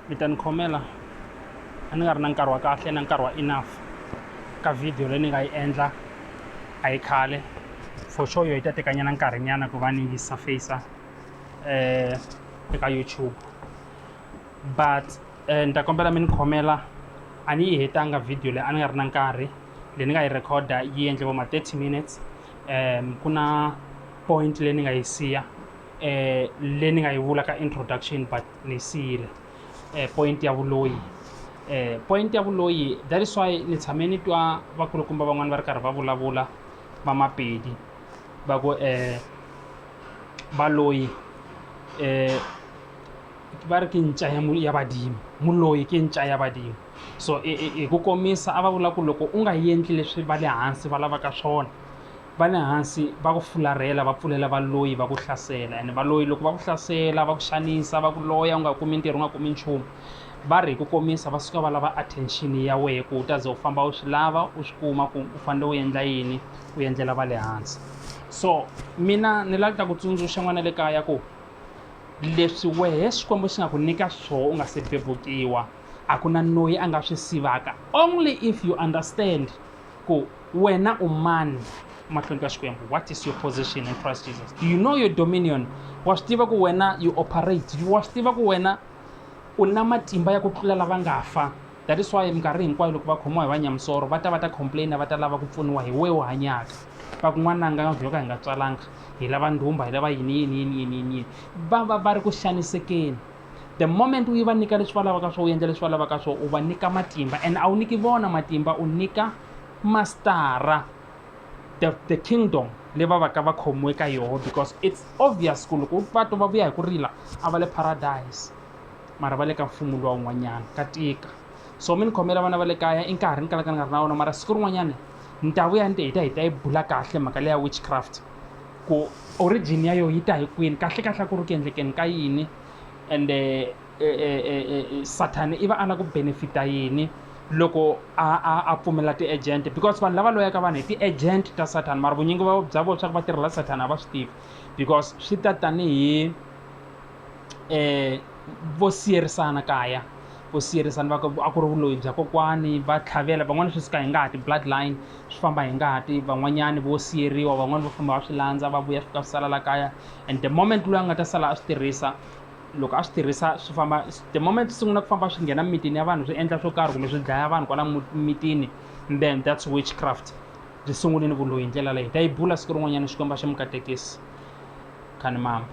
mi ta ni khomela a ni nga ri na nkarhi wa kahle na nkarhi wa enough ka video leyi ni nga yi endla a yi khale for sure yo yi ta tekanyana nkarhinyana ku va ni yi surfacer eh eka youtube but eh, ni ta kombela mi ni khomela a ni yi hetanga video leyi a ni nga ri na nkarhi leyi ni nga yi recorda yi endle vo ma 30 minutes um ku na point leyi ni nga yi siya eh leyi ni nga yi vula ka introduction but ni siyile eh point ya vuloyi eh point ya vuloyi that is why ni tshame ni twa vakulukumba van'wani va ri karhi va vulavula va mapedi va ku eh valoyi eh va ri ke ntša ya, ya badimo muloyi ke ntša ya badimo so hi ku komisa a va vula ku loko u nga endli leswi va le hansi va lavaka swona va le hansi va ku fularhela va pfulela valoyi va ku hlasela ene valoyi loko va ku hlasela va ku xanisa va ku loya u nga kumi ntirho u nga kumi nchumu va ri hi ku komisa va suka va lava attention ya wehe ku u ta ze u famba u swi lava u swi kuma ku u fanele u endla yini u endlela va le hansi so mina ni lava ku ta ku tsundzuxa n'wana le kaya ku leswi wehe xikwembu xi nga ku nyika swoho u nga se bebukiwa a ku na noyi a nga swi sivaka only if you understand ku wena u mani mahlweni ka xikwembu what is your position in christ jesus do you know your dominion wa swi tiva ku wena you operate wa swi tiva ku wena u na matimba ya ku tlula lava nga fa that is why minkarhi hinkwayo loko va khomiwa hi vanyamisoro va ta va ta complaina va ta lava ku pfuniwa hi wewo hanyaka va kun'wana nga vyo ka hi nga tswalanga hi lava ndhumba hi lava yini yini yini yini yini yini va va va ri ku xanisekeni the moment u yi va nyika leswi va lavaka swo u endla leswi va lavaka swo u va nyika matimba and a wu nyiki vona matimba u nyika mastara the, the kingdom leyi va va ka va khomiwe ka yoho because it's obvious ku loko va twa va vuya hi ku rila a va le paradise mara va le ka mfumo luwa wun'wanyana ka tika so mi ni khomela vana va le kaya i nkarhi ni kalaka ni nga ri na wona mara siku rin'wanyana ni ta vuya ni te hi ta hi ta yi bula kahle mhaka leya witchcraft ku origin ya yo yi ta hi kwini kahle kahle a ku ri ku endlekeni ka yini ende e, e, e, e, e sathani i va a la ku benefita yini loko a a a pfumela ti-agent because vanhu lava loyaka vanhu hi ti-agent ta sathani mara vunyingi bya vona swa ku va tirhela sathani a va swi tivi because swi ta tanihi um vo siyerisana kaya vo siyerisana va ku a ku ri vuloyi bya kokwani va tlhavela van'wani swi suka hi ngati blood line swi famba hi ngati van'wanyani vo siyeriwa van'wani vo famba va swi landza va vuya swi ka swi sala la kaya and the moment loyi a nga ta sala a swi tirhisa loko a swi tirhisa swi famba the moment swi sungula ku famba swi nghena mitini ya vanhu swi endla swo karhi kumbe swi dlaya vanhu kwala mitini then that's witchcraft byi sungulini ku loyi hi ndlela leyi ta yi bula siku rin'wanyana xikwembu a xi mi katekisi khani mambo